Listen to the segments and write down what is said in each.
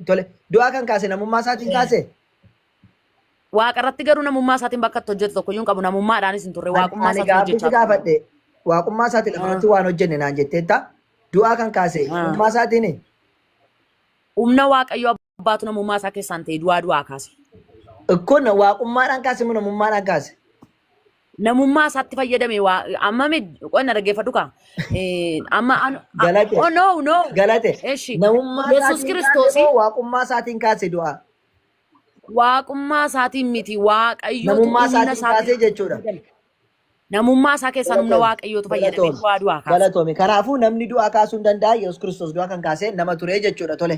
Tole, du'aa kan kaase namummaa isaatiin kaase? Waaqa irratti garuu namummaa isaatiin bakka itti hojjetu tokko iyyuu hin qabu. Namummaadhaanis hin turre. Ani Waaqummaa ani isaatiin gaaffiitti hojjechaa ture. gaafadhe waaqummaa isaatiin lafa irratti waan hojjenne naan jetteetta. Du'aa kan kaase Ah. namummaa isaatiin Humna Waaqayyo abbaatu namummaa isaa keessaan ta'e du'aa du'aa kaase. kun waaqummaadhaan kaase moo namummaadhaan kaase? namummaa isaatti fayyadame waa amma mi qo'anna dhaggeeffadhu kaa Eh, amma an- a- Galate. oh no no Galate. eshi Namummaa yesus isaatiin kiristoosi kaasee moo waaqummaa isaatiin kaase du'a? waaqummaa isaatiin miti waaqayyootu Namummaa humna isaatiin isaatiin kaasee jechuudha. namummaa isaa keessaan humna Galatoom. waaqayyootu fayyadame Galatoom. du'aa du'aa kaasa Galatoom. Kanaafuu namni du'a kaasuu hin danda'u. Yesuus Kiristoos du'a kan kaase nama ture jechuudha. Tole.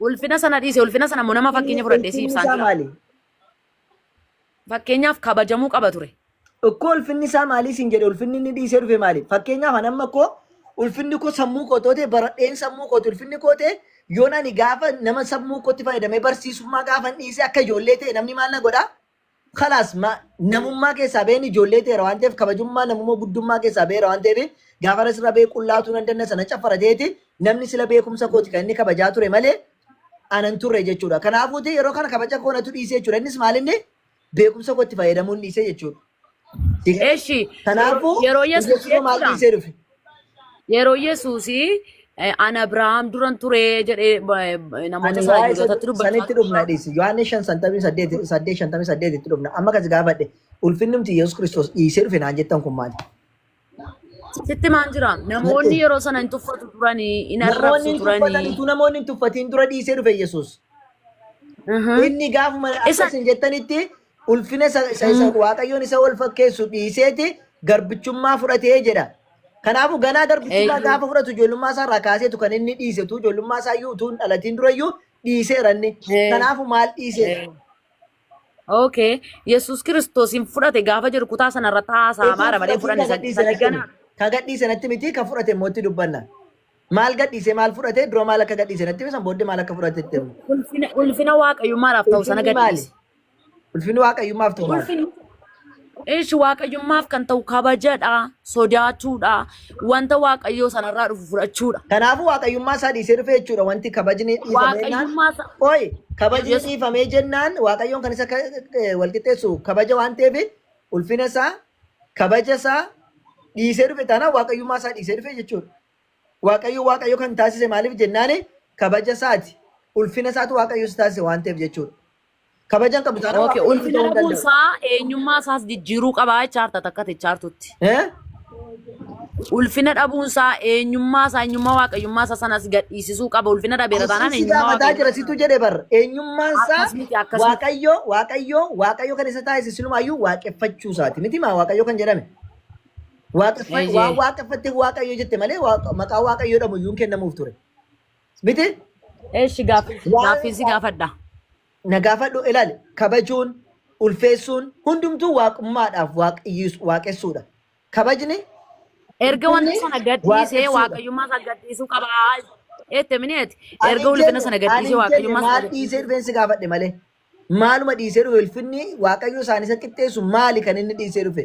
Ulfina sana dhiise ulfina sana immoo nama fakkeenya fudhadhee si ibsaan jira. maali? Fakkeenyaaf kabajamuu qaba ture. Ikkoo ulfinni isaa maalii siin jedhe ulfinni inni dhiisee dhufe maali? Fakkeenyaaf an amma koo ulfinni koo sammuu koo toote baradheen sammuu kooti ulfinni koo ta'e yoon ani gaafa nama sammuu kootti fayyadamee barsiisummaa gaafan dhiisee akka ijoollee ta'e namni maal na godha? kalaas namummaa keessaa ba'een ijoollee ta'eera waan ta'eef kabajummaa namummaa guddummaa keessaa ba'eera waan ta'eef gaafa irra sirra ba'ee qullaatuu nan danda'a sana caffara ta'eeti namni sila beekumsa kooti kan inni kabajaa ture malee anan turre jechuudha. Kanaafuu ta'e yeroo kana kabaja koo natu dhiisee jechuudha. Innis maal inni beekumsa kootti fayyadamuun dhiisee jechuudha. Eshi Kanaafuu yeroo yesus Yesuus maal jechuudha. dhiisee dhufe? Yeroo Yesuus an Abrahaam duran ture jedhee namoota Ani sana waa'ee isa Yihudootatti dubbachaa sanitti ture. dhufna dhiisi. Yohaannis 5:58 itti dhufna. Amma kasi gaafadhe ulfinnumti Yesuus Kiristoos dhiisee dhufe naan jettan kun maali? Sitti maan jira? Namoonni Natti. yeroo sana hin tuffatu turanii, hin Namoonni arrabsu hin turanii. tuffatanitu namoonni hin tuffatiin dura dhiisee dhufe Yesuus. Mhm. Inni gaafuma Isa- akkas hin jettanitti ulfina isa isa isa Mm. waaqayyoon isa wal fakkeessu dhiiseeti garbichummaa fudhatee jedha. Kanaafuu ganaa garbichummaa Eeyyee. gaafa fudhatu ijoollummaa isaa irraa kaaseetu kan inni dhiisetu ijoollummaa isaa iyyuu utuu hin dhalatiin dura iyyuu dhiiseera inni. Ee. Kanaafuu maal dhiiseera? Ee. Okay. Yesuus Kiristoos hin fudhate gaafa jedhu kutaa sana irratti haasaa maara malee Yesuus fudhanne fudhatee isa kan gadhiise ganaa. natti miti. Kan gadhiise natti miti kan fudhate immoo itti dubbanna. Maal gadhiise maal fudhate dura maal akka gadhiise natti miti san booddee maal akka fudhate itti himna. Ulfina ulfina waaqayyummaadhaaf ta'u sana Ulfinni maali? gadhiise. Ulfinni waaqayyummaaf ta'u maal? Ulfinni Ishi waaqayyummaaf kan ta'u kabajadha, sodaachuudha, wanta waaqayyoo sanarraa dhufu fudhachuudha. Kanaafuu waaqayyummaa isaa dhiisee dhufe jechuudha wanti kabajni dhiifamee jennaan. Waaqayyummaa isaa- Qoy kabajni Yesus- dhiifamee jennaan waaqayyoon kan isa ka- eh, wal qixxeessu kabaja waan ta'eef ulfina isaa kabaja isaa dhiisee dhufe taanaan waaqayyummaa isaa dhiisee dhufe jechuudha. Waaqayyo waaqayyo kan taasise maaliif jennaan kabaja isaati ulfina isaatu waaqayyo isa taasise waan ta'eef jechuudha. Kabajan qabdu taanaan Okay, waaqayyo ulfina ta'uu hin dhabuun danda'u. isaa eenyummaa isaas jijjiiruu qabaa jechaa jirta takka jechaa jirtutti. Eh? Ulfina dhabuun isaa eenyummaa isaa eenyummaa waaqayyummaa isaa sanas gadhiisisuu qaba. Ulfina dhabeera taanaan Asiin si eenyummaa gaafataa waaqayyummaa jira situ jedhe bar eenyummaan isaa akkas miti akkas miti. waaqayyo waaqayyo waaqayyo kan isa taasise silumaayyuu waaqeffachuu isaati miti maa waaqayyo kan jedhame Waaqeffa- Eeyyee. waan waaqeffatte waaqayyo jette malee waaqa- maqaa waaqayyo jedhamu iyyuu hin kennamuuf ture Miti Eeshi gaaf Waa'ee gaaffii si isaa- gaafadha. na gaafadhu ilaali kabajuun ulfeessuun hundumtuu waaqummaadhaaf waaqiyyiis- waaqessuudha. Kabajni Erga wanta Inni sana gadhiisee waaqessuudha. waaqayyummaa isaa gadhiisuu qaba. Eette mineeti. ani Erga hin ulfina jenne- sana ani gadhiisee hin jenne waaqayyummaa isaa maal gadhiisuu dhiisee dhufeen si gaafadhe malee maaluma dhiisee dhufe ulfinni waaqayyo isaanii isa qixxeessu maali kan inni dhiisee dhufe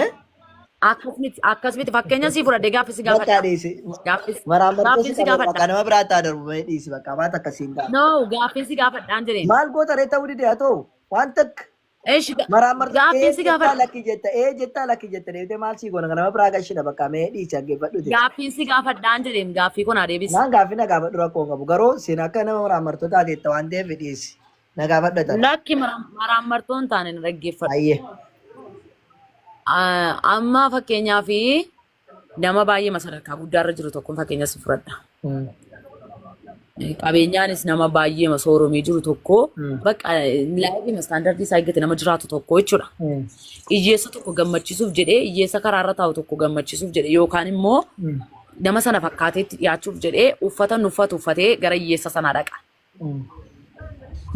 Eh? Akkasumatti akkasumatti fakkeenya sii fudhadhe gaaffii si Bakka gaafadha. dhiisi. Gaaffii Waraabbattee gaaffiin si si gaafadha. gaafadha. Nama biraa taa darbu bahee dhiisi bakka waan takka siin gaafadha. No gaaffiin si gaafadhaan jireen. Maal goota ree ta'uu dide haa ta'u waan takka Eesh maraammartee gaaffiin ee si jettaa gaafadha. lakki jetta ee jettaa lakki jetta deebitee maal sii goona nama biraa gashidha bakka mee dhiisi dhaggeeffadhu ta'e. Gaaffiin si gaafadhaan jireen gaaffii kun adeebis. Naan gaaffii na gaafadhu rakkoo hin qabu garuu siin akka nama maraammartoo taate itti waan ta'eef dhiisi. Na gaafadha carraa. Lakki mara- maraammartoo hin taane na dhaggeeffadhu. Hayyee. Ah, Amma fakkeenyaaf nama baay'ee sadarkaa guddaarra jiru tokkoon fakkeenya si fudhadha. Mm. Qabeenyaanis nama baay'ee sooromee jiru tokko Mm. bakka laayifii istaandardii isaa eeggate nama jiraatu tokko jechuudha. Mm. Hiyyeessa tokko gammachiisuuf jedhee hiyyeessa karaarra taa'u tokko gammachiisuuf jedhee yookaan immoo Mm. nama sana fakkaateetti dhiyaachuuf jedhee uffata inni uffatu uffatee gara hiyyeessa sanaa dhaqa.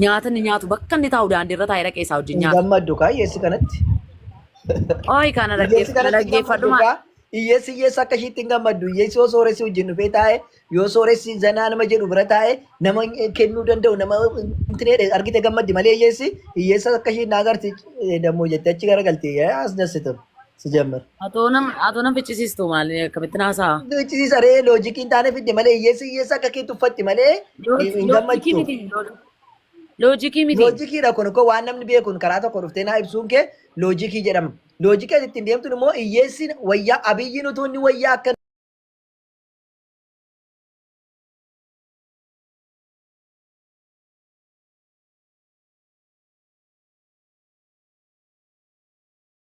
Nyaata inni nyaatu bakka inni taa'u daandii irra taa'ee dhaqee isaa wajjin Hin nyaata. gammaddu kaa hiyyeessi kanatti. Ooyi kana Hiyyeessi kanatti hin dhaggeeffadhu gammaddu maa. kaa. Hiyyeessi hiyyeessa akka ishiitti hin gammaddu. Hiyyeessi yoo sooressi wajjin dhufee taa'e yoo sooressi zanaa nama jedhu bira taa'e nama hin- kennuu danda'u nama intineedhe argite gammaddi malee hiyyeessi hiyyeessa akka ishiin na agarti eh, dammoo jette achi gara galti eh, as dassitu. si jammar. Atoo nam atoo nam ficcisiistu maali akkamitti naasaa? Duuchisiisa ree loojikiin taane fidde malee hiyyeessi hiyyeessa akka kee tuffatti malee hin hin Loojikii gammachu. miti loojikii miti. Loojikiidha kun koo waan namni beekun karaa tokko dhuftee naa ibsuun kee loojikii jedhama. Loojikii ati ittiin deemtun immoo hiyyeessi wayyaa abiyyiin utuu inni wayyaa akka